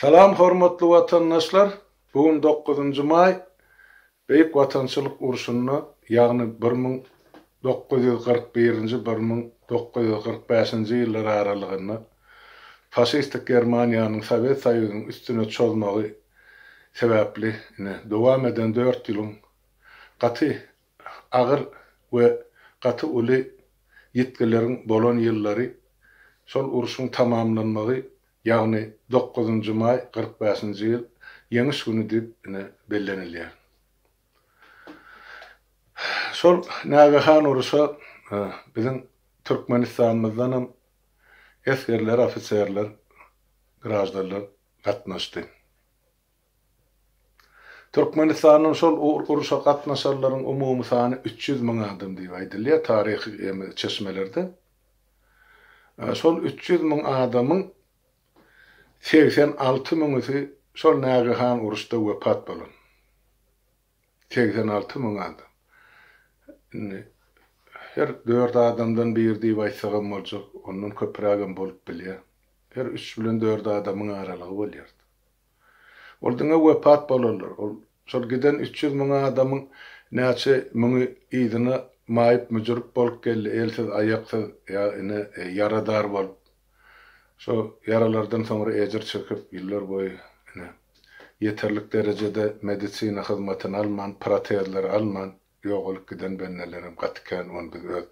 Salam hormatly watandaşlar bu gün dokuzynjy maý Beýik Watançylyk urşunda ýagny bir müň dokuz ýüz kyrk birinji bir müň dokuz ýüz kyrk bäşinji ýyllar aralygynda faşistik Germaniýanyň Sowet Soýuzynyň üstüne çozmagy sebäpli ine dowam eden dört ýylyň gaty Agyr we gaty uly ýitgileriň bolan ýyllary, şol urşuň tamamlanmagy, ýagny dokuzynjy maý kyrk bäşinji ýyl Ýeňiş güni diýip ine bellenilýär. Şol nägehan uruşa biziň Türkmenistanymyzdanam esgerler, ofiserler, graždanlar gatnaşdy. Türkmenistanyň şol uruşa gatnaşanlaryň umumy sany üç ýüz müň adam diýip aýdylýar taryhy çeşmelerde. Şol üç ýüz müň adamyň segsen alty müňüsi şol nägehan uruşda wepat bolan. Segsen alty müň adam. Indi her dört adamdan biri diýip aýtsagam boljak, ondan köpürägem bolup bilýär. Her üç bilen dört adamyň aralygy bolýar. Ol diňe wepat bolarlar. Ol şol giden üç ýüz müň adamyň näçe müňi yzyna maýyp-müjrüp bolup geldi, elsiz-aýaksyz, ýa ine, ýaradar bolup, şo ýaralardan soňra ejir çekip, ýyllar boýy, ine, ýeterlik derejede medisina hyzmatyny alman, protezleri alman ýogalyp giden bendelerem gaty kän. Ony biz öz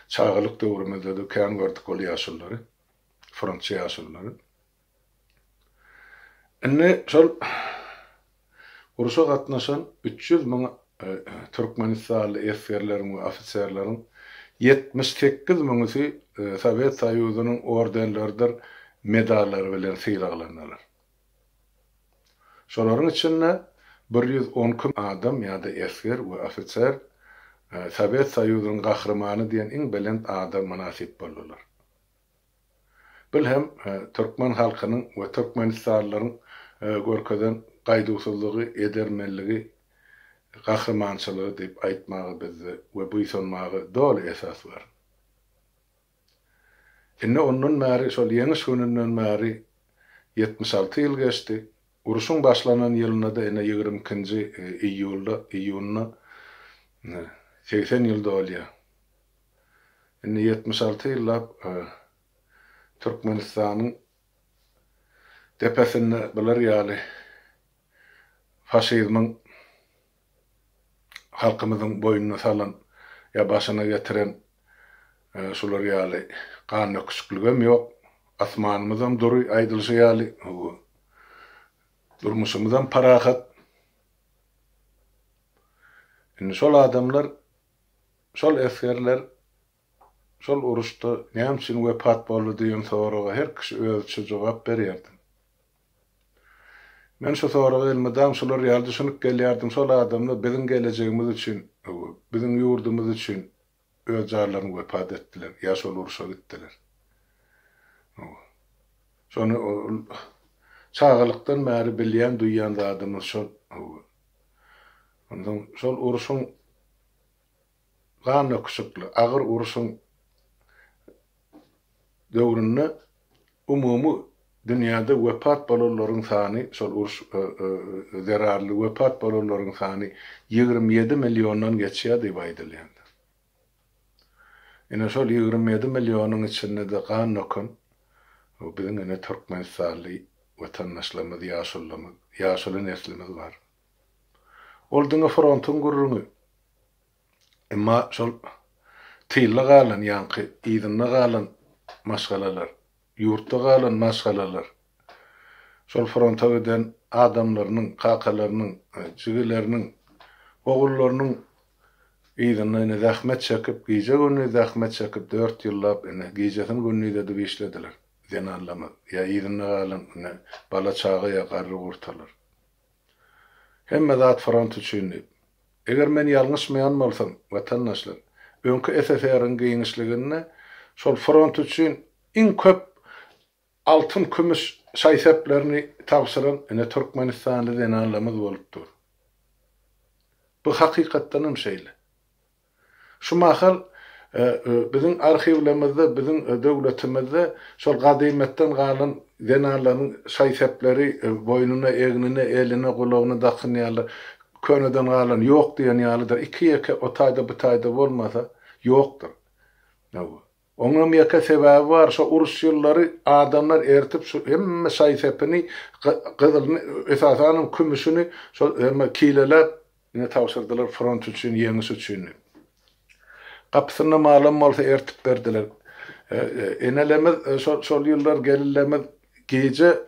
çagalyk döwrümizde-de kän gördük ol ýaşululary, frontçy ýaşululary. Indi şol urşa gatnaşan üç ýüz müň türkmenistanly esgerleriň we ofiserleriň ýetmiş sekiz müňüsi Sowet Soýuzynyň ordenleridir medallary bilen sylaglandylar. Şolaryň içinde bir ýüz on iki adam ýa-da esger we ofiser Sowet Soýuzynyň Gahrymany diýen iň belent ada mynasyp boldular. Bil hem, türkmen halkynyň we türkmenistanlylaryň görkezen gaýduwsyzlygy, edermenligi, gahrymançylygy diýip aýtmaga bizde we buýsanmaga doly esas bar. Indi ondan bäri, şol Ýeňiş gününden bäri ýetmiş alty ýyl geçdi. Uruşyň başlanan ýylynda-da, ine, ýigrimi ikinji iýulda, iýunda segsen ýyl dolýar. Indi ýetmiş alty ýyllap Türkmenistanyň depesinde bular ýaly faşizmiň halkymyzyň boýnuna salan ýa başyna getiren şular ýaly gandöküşikligem ýok. Asmanymyzam dury aýdylyşy ýaly, durmuşymyzam parahat. Indi şol adamlar Şol esgerler şol uruşda näme üçin wepat boldy diýen soraga her kişi özüçe jogap berýärdi. Men şu soraga elmydam şular ýaly düşünip gelýärdim, şol adamlar biziň gelejegimiz üçin, biziň ýurdumyz üçin öz janlaryny wepat etdiler ýa şol uruşa gitdiler. Şony çagalykdan bäri bilýän, duýýan zadymyz şol. Onsoň şol uruşyň gandöküşikli agyr urşuň döwründe umumy dünýäde wepat bolanlaryň sany, şol uruş zerarly wepat bolanlaryň sany ýigrimi ýedi milliondan geçýär diýip aýdylýandyr. Ine, şol ýigrimi ýedi millionyň içinde-de gan döken biziň ene türkmenistanly watandaşlarymyz, ýaşulymyz, ýaşuly neslimiz bar. Ol diňe frontuň gürrüňi. Emma şol tylda galan, ýaňky yzynda galan maşgalalar, ýurtda galan maşgalalar, şol fronta giden adamlarynyň, kakalarynyň, jigileriniň, ogullarynyň yzynda ine zähmet çekip, gije-gündiz zähmet çekip, dört ýyllap ine gijesini-gündiz edip işlediler, zenanlarymyz ýa yzynda galan ine bala-çaga ýa garry-gurtalar. Hemme zat front üçin diýip. Eger men ýalňyşmaýan bolsam, watandaşlar, öňki SSR-iň giňişliginde şol front üçin iň köp altyn, kümüş şaý-seplerini tabşyran ine türkmenistanly zenanlamyz bolup dur. Bu hakykatdanam şeýle. Şu mahal biziň arhiwlemizde biziň döwletimizde şol gadymetden galan zenanlaryň şaý-sepleri boýnuna, egnine, eline, gulagyna dakynýarlar. Köneden galan ýok diýen ýalydyr. Iki-ýeke o taýda-bu taýda bolmasa, ýokdur. Oňam ýeke sebäbi bar, şo uruş ýyllary adamlar ertip şu hemme şaý-sepini, gyzylyny, esasanam kümüşini şol hemme kileläp, ine tabşyrdylar front üçin, ýeňiş üçin diýip. Gapysynda malam bolsa ertip berdiler. Enelerimiz şol ýyllar gelinlerimiz gije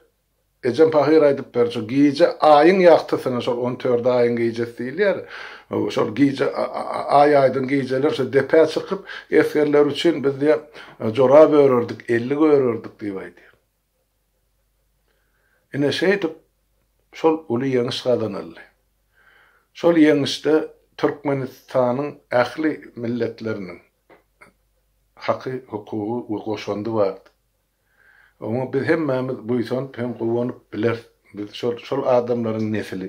Ejem pahyr aýdyp berdi, şo gije Aýyň ýagtysyna, şol on tördi Aýyň gijesi diýilýär, şol gije Aý aýdyň gijeler şo depä çykyp, esgerler üçin biz diýe jorap örerdik, ellik örerdik diýip aýdýar. Ine şeýdip, şol uly ýeňiş gazanyldy. Şol ýeňişde Türkmenistanyň ähli milletleriniň haky, hukugy we goşandy bardy. Oňa biz hemmämiz buýsanyp hem guwanyp bileris. Biz şol, şol adamlaryň nesili.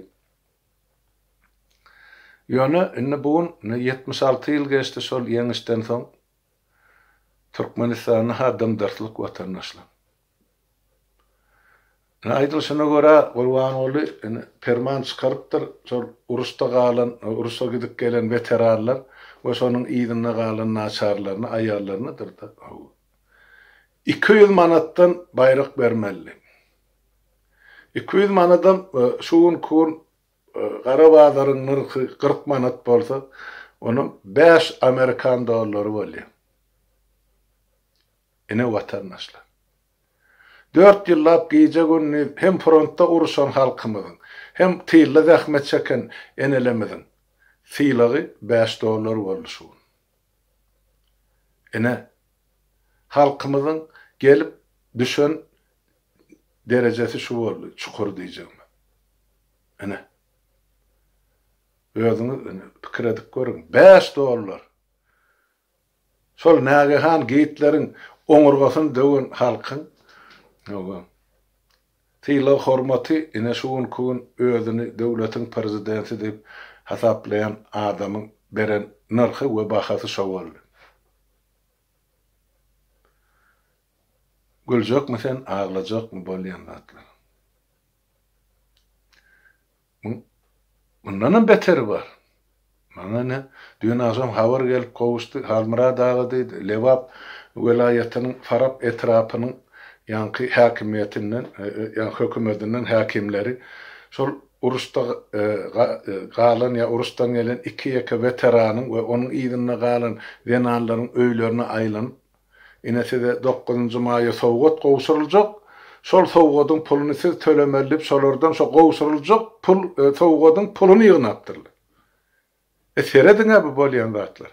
Ýöne, indi bu gün ýetmiş alty ýyl geçdi şol ýeňişden soň. Türkmenistanda-ha dymdyrtlyk watandaşlar. Ine, aýdylyşyna görä, Gurbanguly indi perman çykarypdyr, şol uruşda galan, uruşa gidip gelen weteranlar we şonuň yzynda galan naçarlaryny, aýallarynydyr-da, hawa, iki ýüz manatdan baýrak bermeli. Iki ýüz manadam şu günki gün gara bazaryň nyrhy kyrk manat bolsa, onam bäş amerikan dollary bolýar. Ine, watandaşlar. Dört ýyllap gije-gündiz hem frontda uruşan halkymyzyň, hem tylda zähmet çeken enelemiziň sylagy bäş dollar boldy şu gün. Ine, halkymyzyň gelip düşen derejesi şu boldy, çukur diýjegimiz. Ine, özüňiz pikir edip görüň, bäş dollar! Şol nägehan Gitleriň oňurgasyny döwen halkyň sylag-hormaty ine şu günki gün özüni döwletiň prezidenti diýip hasaplaýan adamyň beren nyrhy we bahasy şo boldy. Güljekmi sen, aglajakmy bolýan zatlar. Muň mundanam beteri bar. Maňa ine, düýn agşam habar gelip gowuşdy, Halmyrat aga diýdi, Lebap welaýatynyň Farap etrapynyň ýaňky häkimiýetinden, ýagny hökümedinden häkimleri şol uruşda galan ýa uruşdan gelen iki-ýeke weteranyň we onuň yzynda galan zenanlaryň öýlerine aýlanyp, Ine size dokuzynjy maýa sowgat gowşuryljak, şol sowgadyň puluny siz tölemeli diýip şolardan şo gowşuryljak pul sowgadyň puluny ýygnapdyrlar. E serediňä bu bolýan zatlar.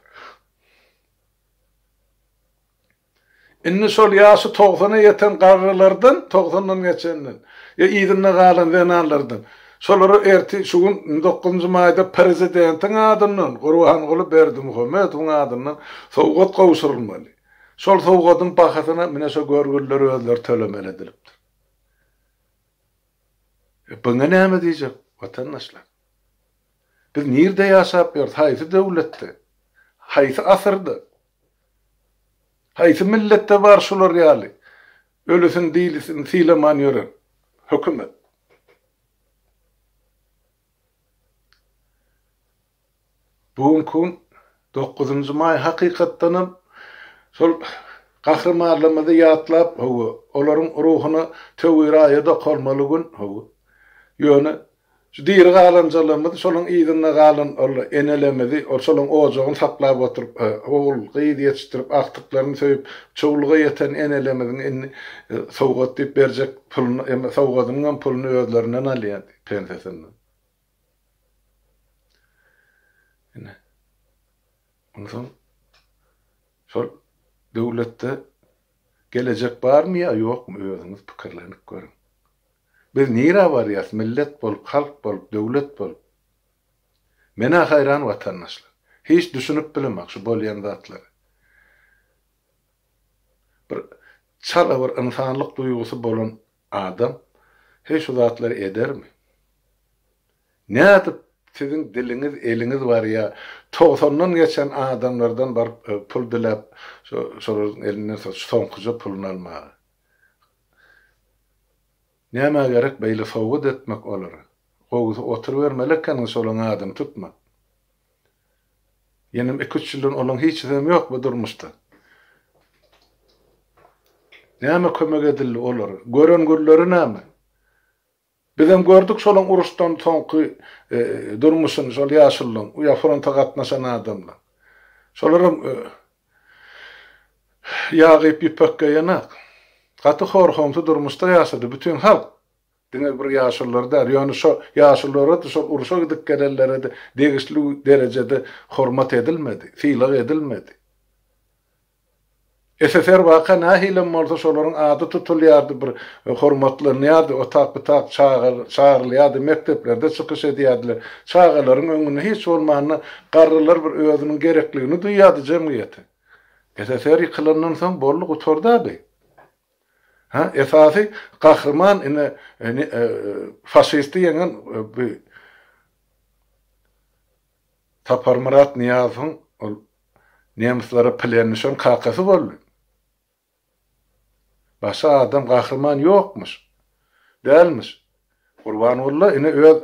Indi şol ýaşy togsana ýeten garrylardan, togsandan geçenden, ýa yzynda galan zenanlardan Şolary ertir şu gün dokuzynjy maýda Prezidentiň adyndan Gurbanguly Berdimuhamedowyň adyndan sowgat gowşurylmaly. Şol sowgadyň bahasyny mine şo görgüliler özleri tölemeli edilipdir. E biňe näme diýjek watandaşlar? Biz nirde ýaşap ýörüs, haýsy döwletde, haýsy asyrda? Haýsy milletde bar şular ýaly ölüsin dilisin sylaman ýören hökümet? Bu günki gün dokuzynjy maý hakykatdanam şol gahrymarlarymyzy ýatlap, hawa, olaryň ruhuna töwir aýa dokalmaly gün, hawa. Ýöne şu diri galanjalarymyz şolaryň yzynda galan ol enelerimizi, ol şolaryň ojagyny saklap oturyp, ogul, gyz ýetişdirip, agtyklaryny söýüp, çowluga ýeten enelerimiziň indi sowgat diýip berjek Puluny, emma sowgadynyň hem puluny özlerinden alýar, pensiýasyndan. Ine. Onsoň şol döwletde gelejek barmy ýa ýokmy, özüňiz pikirlenip görüň. Biz nirä barýarys, millet bolup, halk bolup, döwlet bolup? Men-ä haýran, watandaşlar. Hiç düşünip bilemok şu bolýan zatlara. Bir çala bir ynsanlyk duýgusy bolan adam heý şu zatlary edermi? Nädip siziň diliňiz, eliňiz barýa, togsandan geçen adamlardan baryp pul diläp şo şolaryň elinden so soňkuja puluny almaga? Nämä gerek beýle sowgat etmek olara? Gowusy oturybermeli ekeniňiz şolaň adyny tutman. Ýenem iki-üç ýyldan onuň hiçisem ýok bu durmuşda. Näme kömek edildi olar? Gören günleri näme? Bizem gördük şolaň uruşdan soňky durmuşyny şol ýaşullaň, ýa fronta gatnaşan adamlaň. Şolaram ýag iýip ýüpek geýenak. Gaty hor-homsy durmuşda ýaşady bütin halk. Diňe bir ýaşulylary däl, ýöne şo ýaşulylara-da, şol urşa gidip gelenlere-de degişli derejede hormat edilmedi, sylag edilmedi. SSR waka nähilem bolsa şolaryň ady tutulýardy, bir hormatlanýardy, otak-butak çagyrylýardy, mekdeplerde çykyş edýärdiler. Çagalaryň öňünde hiç bolmanda garrylar bir özüniň gerekligini duýýardy jemgyýete. SSR ýykylandan soň boldy, gutardy-a bi. Hä, esasy gahryman ine faşisti ýeňen bu Saparmyrat Nyýazowyň ol nemslere plen düşen kakasy boldy. Başga adam gahryman ýokmuş. Dälmiş. Gurbangulla ine öz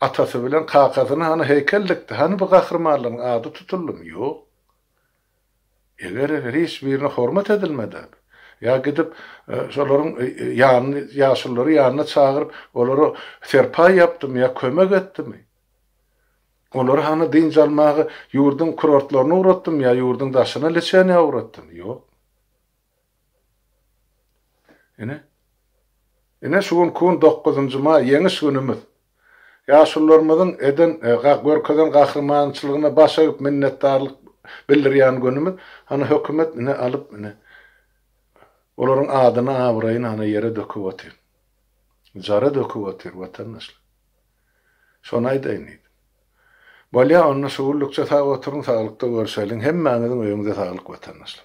atasy bilen kakasyna hany heýkel dikdi. Hany bu gahrymanlaryň ady tutuldymy? Ýok. Eger hiç birine hormat edilmeden, ýa gidip şolaryň ýanyny, ýaşululary ýanyna çagyryp, olara serpaý ýapdymy ýa kömek etdimi, olary hany dynç almaga ýurduň kurortlaryna ugratdymy ýa ýurduň daşyna, liçeniýa ugratdymy? Ýok. Ine. Ine şu gün kun dokuzynjy maý, ýeňiş günümiz. Ýaşulularymyzyň eden, görkezen gahrymançylygyna baş egip minnetdarlyk bildirýän günümiz. Hany hökümet ine alyp ine olaryň adyny abraýyny ana ýere döküp otyr. Jara döküp otyr watandaşlar. Şony aýdaýyn diýdim. Bolýa onda şu günlükçe sag oturyň saglykda görşeliň hemmäňiziň öýüňize saglyk watandaşlar.